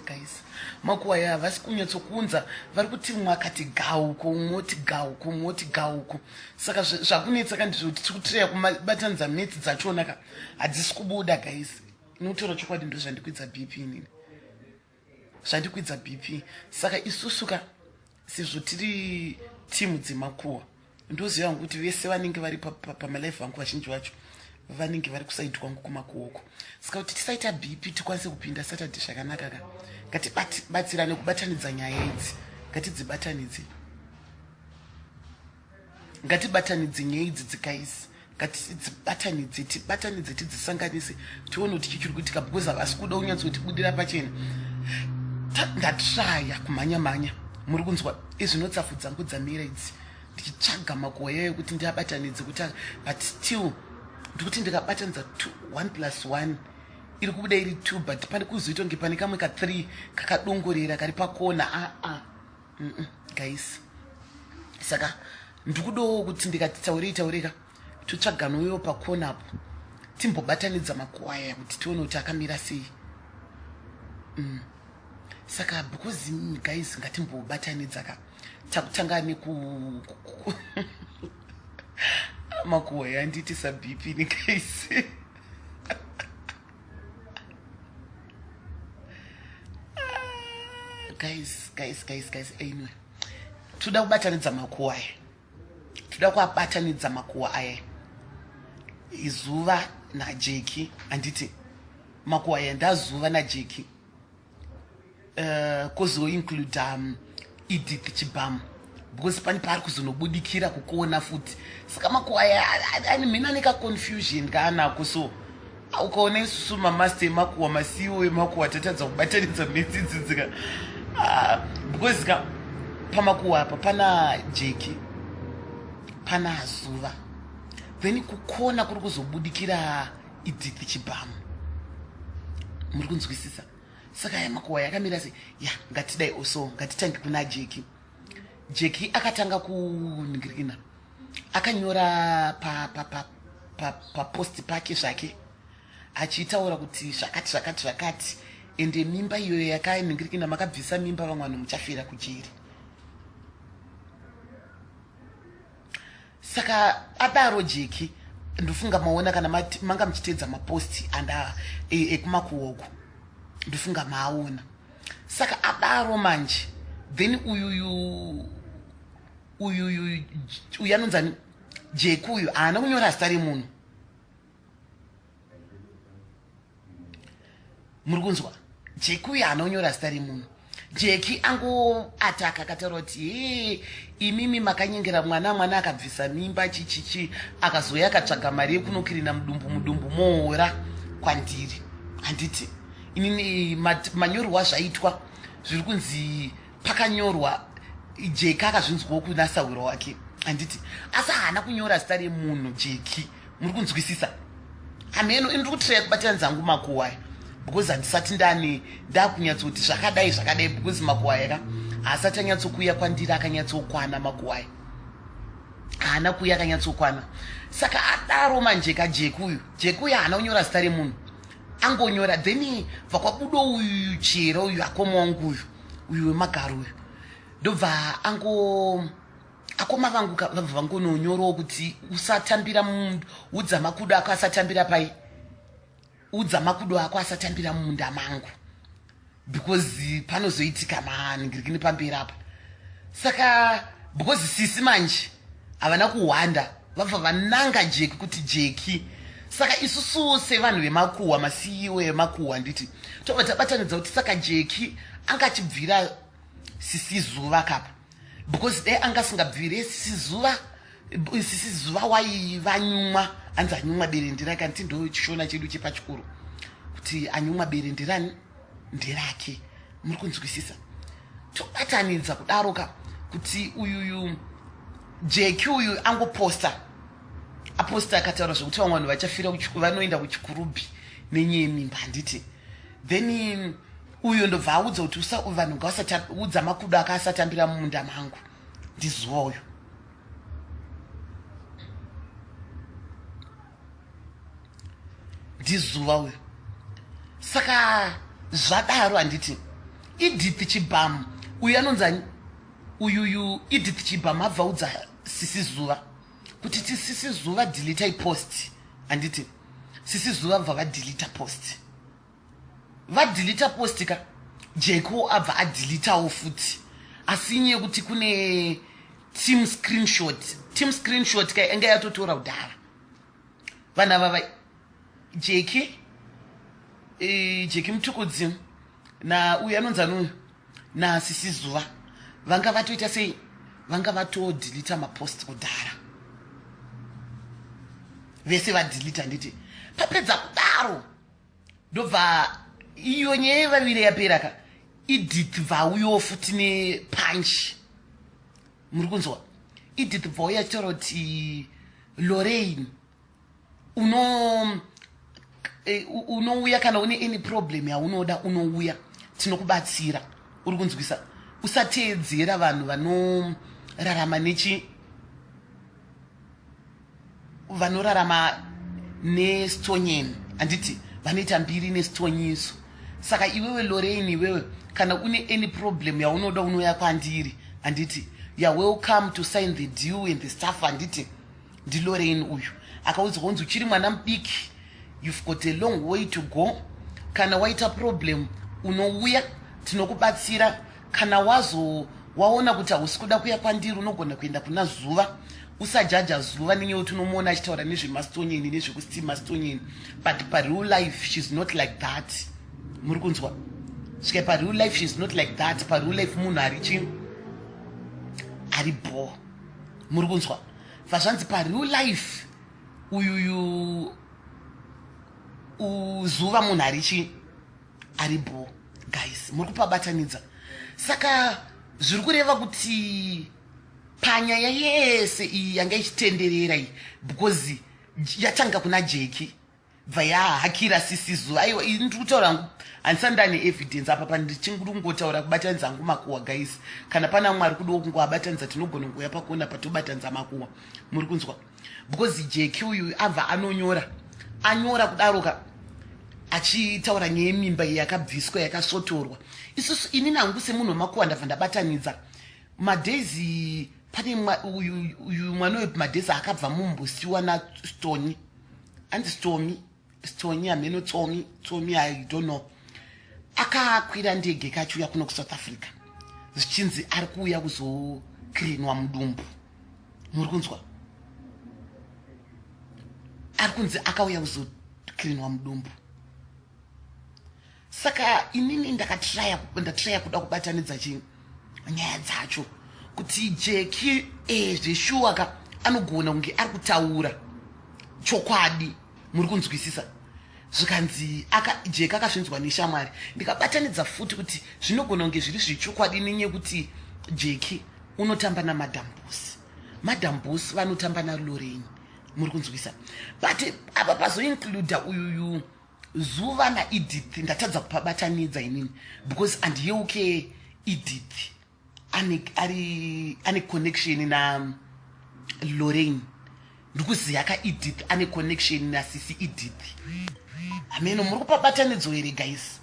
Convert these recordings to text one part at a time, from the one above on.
guys makuwa ya havasi kunyatsokunza vari kuti mumwe akati gauko umwe oti gauko umwe oti gauko saka zvakunetsa ka ndizvo kuti tiri kutireya kubatanidza metsi dzachona ka hadzisi kubuda guys inotaura chokwadi ndozvandikuidza bp inini zvandikwidza BP saka isusu ka sezvo tiri timu dzemakuwa ndoziva hangu kuti vese vanenge vari pamalife vangu vazhinji vacho vanenge vari kusaidi kwangu kumakuoko saka kuti tisaita BP tikwanise kupinda Saturday zvakanaka ka ngatibatsirane kubatanidza nyaya idzi ngatidzibatanidze ngatibatanidze nyaya idzi dzikaisi ngatidzibatanidze tibatanidze tidzisanganise tione kuti chii chiri kuitika because havasi kuda unyatso kutibudira pachena ndatraya kumhanya mhanya muri kunzwa izvinotsafu dzangu dzamira idzi ndichitsvaga makuwa yayo kuti ndiabatanidze kuti but still ndikuti ndikabatanidza one plus one iri kubuda iri two but pane kuzoita kunge pane kamwe ka three kakadongorera kari pakona aa ah, ah. mm -mm, guys saka ndikudowo kuti ndikati taurei taureka totsvagana uyo pakona apo timbobatanidza makuwaya kuti tione kuti akamira sei mm. saka because guys ngatimbobatanidza ka takutanga neku makuwaya anditi sabp nekaisi guys guys guys guys anyway toda kubatanidza makuwa aya toda kuabatanidza makuwa aya izuva najeki handiti makuwa aya ndazuva najeki uh, kozoincluda um, edith chibhamu because pane paari kuzonobudikira kukuona futi saka makuwaya ani mhina nekaconfusion kaanako so ah, ukaona isusu mamaster emakuwa masiwo emakuwa tatadza kubatanidza medzidzidzika ah, because ka pamakuwa apa pana jeki pana zuva then kukona kuri kuzobudikira Edith Chibhamu. Muri kunzwisisa? Saka ya makuwa yakamira se ya ngatidai also ngatitange kuna Jeki. Jeki akatanga kuningirikina. Akanyora pa pa pa pa, pa post pake zvake achiitaura kuti zvakati zvakati zvakati ende mimba iyo yakainingirikina makabvisa mimba vamwe vanhu muchafira kujeri saka adaro jeki ndofunga maona kana manga muchiteedza maposti anda e, ekumakuoko ndofunga maaona saka adaro manje then uyuyu uyuyu uyanonzani jeki uyu haana kunyora zita remunhu muri kunzwa jeki uyo anonyora zita remunhu jeki angoataka akataura kuti hee imimi makanyengera mwana mwana akabvisa mimba chichichi akazouya akatsvaga mari yekunokirina mudumbu mudumbu moora kwandiri handiti inini manyorwa zvaitwa zviri kunzi pakanyorwa jeki akazvinzwawo kunasahwiro wake handiti asi haana kunyora zita remunhu jeki muri kunzwisisa hameno ini ndiri kutiraya kubatira nzangu makuwaya because handisati ndani ndakunyatsoti zvakadai zvakadai because makuwaya ka haasati anyatsokuuya kwandiri akanyatsokwana makuwaya haana kuuya akanyatsokwana saka adaro manje ka jeki uyu jeki uyu haana kunyora zita remunhu angonyora then bva kwabudo uyu chero uyu akoma wangu uyu uyu wemagaro uyu ndobva ango akoma vangu ka vabva vangononyorawo kuti usatambira mumunda udza makudo ako asatambira pai udza makudo ako asatambira mumunda mangu because panozoitika maningirikini pamberi apa saka because sisi manje havana kuhwanda vabva vananga jeki kuti jeki saka isusuwo sevanhu vemakuhwa masiyiwo emakuhwa nditi tobva tabatanidza kuti saka jeki angachibvira sisi zuva kapa because dai anga asingabvire sisi zuva sisi zuva wai vanyumwa anzi anyumwa bere ndirake anti ndo chishona chedu chepachikoro kuti anyumwa bere ndirani ndirake muri kunzwisisa tobatanidza kudaro ka kuti uyuyu jeki uyu angoposta aposta akataura zvekuti vamwe vanhu vachafira vanoenda kuchikurubhi nenyeye mimba handiti then uyo ndobva audza kuti vanhu ngavasaudza makudo aka asatambira mumunda mangu ndizuva uyo ndizuva uyo saka zvadaro handiti edith chibhamu uyu anonzi uyuyu edith chibhamu abva udza sisi zuva kuti tisisi zuva delete ipost handiti sisi zuva bva vadelete post vadelete post ka jeko abva adeletawo futi asi inye yekuti kune team screenshot team screenshot ka enge yatotora kudhara vana vava jeki e, jeki mutukudzi na uyu anonzi anuyu nasisi zuva vanga vatoita sei vanga vatodhilita mapost kudhara vese vadhilita nditi papedza kudaro ndobva iyo nyaya yevavire yapera ka edith vauyo futi nepanchi muri kunzwa edith vauya chitoro kuti lorain uno eh, unouya kana une any problem yaunoda unouya tinokubatsira uri kunzwisa usateedzera vanhu vanorarama nechi vanorarama nestonyen handiti vanoita mbiri nestonyiso saka iwewe lorein iwewe kana une any problem yaunoda unouya kwandiri handiti you're welcome to sign the deal and the stuff handiti ndilorein uyu akaudzwa kunzi uchiri mwana mudiki you've got a long way to go kana waita problem unouya tinokubatsira kana wazo waona kuti hausi kuda kuya kwandiri unogona kuenda kuna zuva usajaja zuva nenyewe kuti unomuona achitaura nezvemastonyeni nezvekusti mastonyeni but pareal life sheis not like that muri kunzwa svika pareal life sheis not like that pareal life munhu ari chi ari bho muri kunzwa Vazvanzi pa real life uyuyu uzuva munhu arichi ari bho guys muri kupabatanidza saka zviri kureva kuti panyaya yese iyi yanga ichitenderera iyi because yatanga kuna jeki bva yahakira sisi zuva aiwa ini ndiri kutaura hangu handisani ndane evidence apa pani ndichingiri kungotaura kubatanidza hangu makuwa guys kana pana mumwe ari kudiwo kungoabatanidza tinogona kungouya pakona patobatanidza makuwa muri kunzwa because jeki uyu abva anonyora anyora kudaroka achitaura nyaya yemimba iyi yakabviswa yakasvotorwa isusu ini nangu semunhu wemakuwa ndabva ndabatanidza madhezi pane uyu mwana uyu madhezi akabva mumbusiwa nastoni hanzi stomi stoni hameno tsomi tsomi i don't know akakwira ndege kachiuya kuno kusouth africa zvichinzi ari kuuya kuzokrinwa mudumbu muri kunzwa ari kunzi akauya kuzokrinwa mudumbu saka inini ndakatraya ndatraya kuda kubatanidza chi nyaya dzacho kuti jeki e eh, zveshuwa ka anogona kunge ari kutaura chokwadi muri kunzwisisa zvikanzi jeki akasvinzwa neshamwari ndikabatanidza futi kuti zvinogona kunge zviri zvechokwadi nenye kuti jeki unotamba namadam bosi madam bosi vanotamba nalorenyi muri kunzwisa but apa pazoincluda uyuyu Zuva naEdith ndatadza kupabatanidza inini because andiyeuke Edith ane ari ane connection na Lorraine ndikuziya ka Edith ane connection na sisi Edith hameno muri kupabatanidzo here guys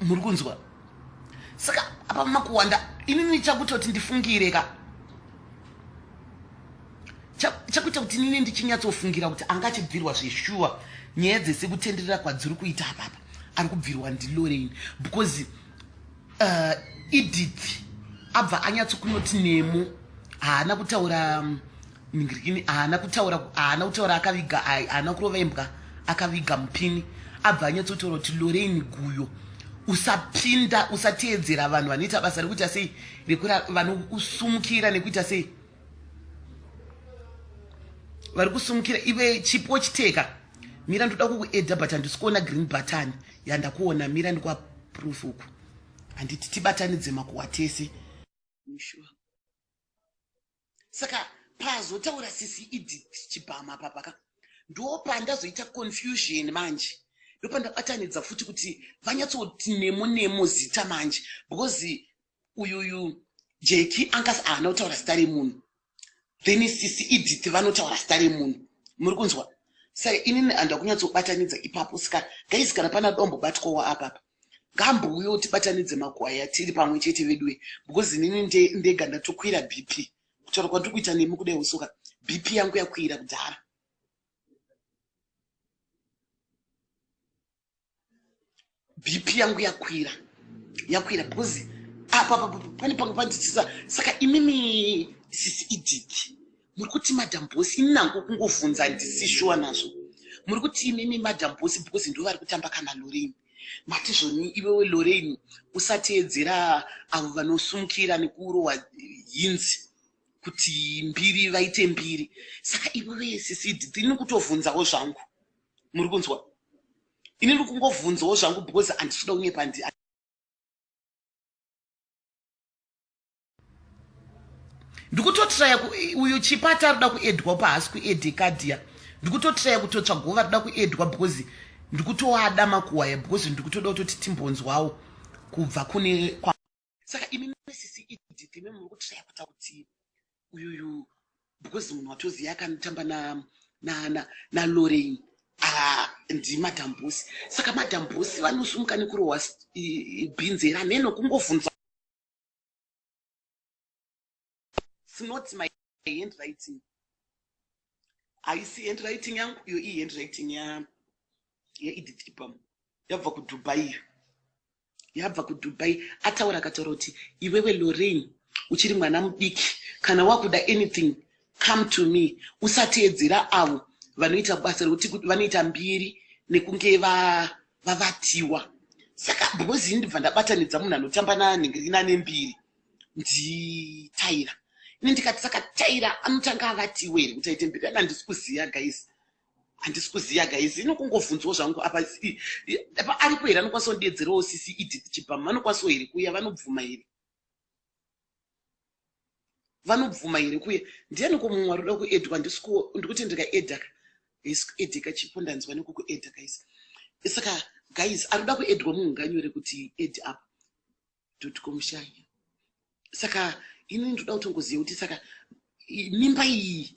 muri kunzwa saka apa makuwanda inini chakuita kuti ndifungire ka chakuita kuti inini ndichinyatsofungira kuti anga achibvirwa zveshuwa nyaya dzese kutenderera kwadziri kuita apapa ari kubvirwa ndiloreini because uh, edith abva anyatsokunoti nemo haana kutaura um, Ningirikini haana kutaura haana kutaura akaviga haana kurova imbwa akaviga mupini abva anyatsotaura kuti Lorraine guyo usapinda usateedzera vanhu vanoita basa rekuita sei rekura vanokusumukira nekuita sei vari kusumukira ive chipo chiteka mira ndoda kukuedha but handisi kuona green button yandakuona mira ndikwaproof uku handiti tibatanidze makuwa tese sure. saka pazotaura sisi edith chibhama papa ka ndopandazoita confusion manje ndopandabatanidza futi kuti vanyatsoti nemo nemo zita manje because uyuyu jeki anga haana kutaura zita remunhu then sisi edith vanotaura zita remunhu muri kunzwa saka inini handakunyatsobatanidza ipapo saka gaizi kana pana dombo batwawo apapa ngambouyewo tibatanidze makwaya tiri pamwe chete veduwe because inini ndega ndatokwira bp kutaura kwandiri kuita nemi kudai usoka bp yangu yakwira kudhara bp yangu yakwira yakwira because apa pane panga panditisa saka imimi sisi idiki muri kuti madam boss ini nangu kungovhunza ndisi shuwa nazvo muri kuti imimi madam boss because ndo vari kutamba kana lorein mati zvoni iwewe lorein usateedzera avo vanosumukira nekuurowa hinzi kuti mbiri vaite mbiri saka iwewe sisi ndini kutovhunzawo zvangu muri kunzwa ini ndiri kungovhunzawo zvangu because handisida unyepa ndikutotiraya uyu chipata arikuda kuedwa pahaasi kuedeka dia ndikutotiraya kutotsvagovo varikuda kuedwa because ndikutoada makuwaya because ndikutoda kutoti timbonzwawo kubva kune kwa saka imi mesisi idp me muri kutiraya kuita kuti uyuyu because munhu watoziva akanotamba nalorein ah, ndimadam bosi saka madam bosi vanosumuka nekurohwa bhinzi here hameno kungovhunza It's not my handwriting. Haisi handwriting yangu iyo i handwriting ya ye Edith Ipam. Yabva ku Dubai. Yabva ku Dubai ataura akataura kuti iwewe Lorraine uchiri mwana mudiki kana wakuda anything Come to me usateedzera avo vanoita basa rekuti kuti vanoita mbiri nekunge vavatiwa va saka because ini ndibva ndabatanidza munhu anotamba nanhingirina nembiri nditaira ini ndikati saka taira anotanga avatiwa here kuti aite mbiri ana handisi kuziva guys handisi kuziva guys ino kungovhunzwa zvangu apa apa aripo here anokwanisa kundiedzerawo sisi edith chibhamu vanokwanisa here kuya vanobvuma here vanobvuma here kuye ndiani ko mumwe arikuda kuedwa ndikuti ndikaedaka edeka chipo ndanzwa nekukueda guys saka guys arikuda kuedwa munhu nganyore kuti ed up dotcomshanya saka ini ndinoda kutongoziva kuti saka mimba iyi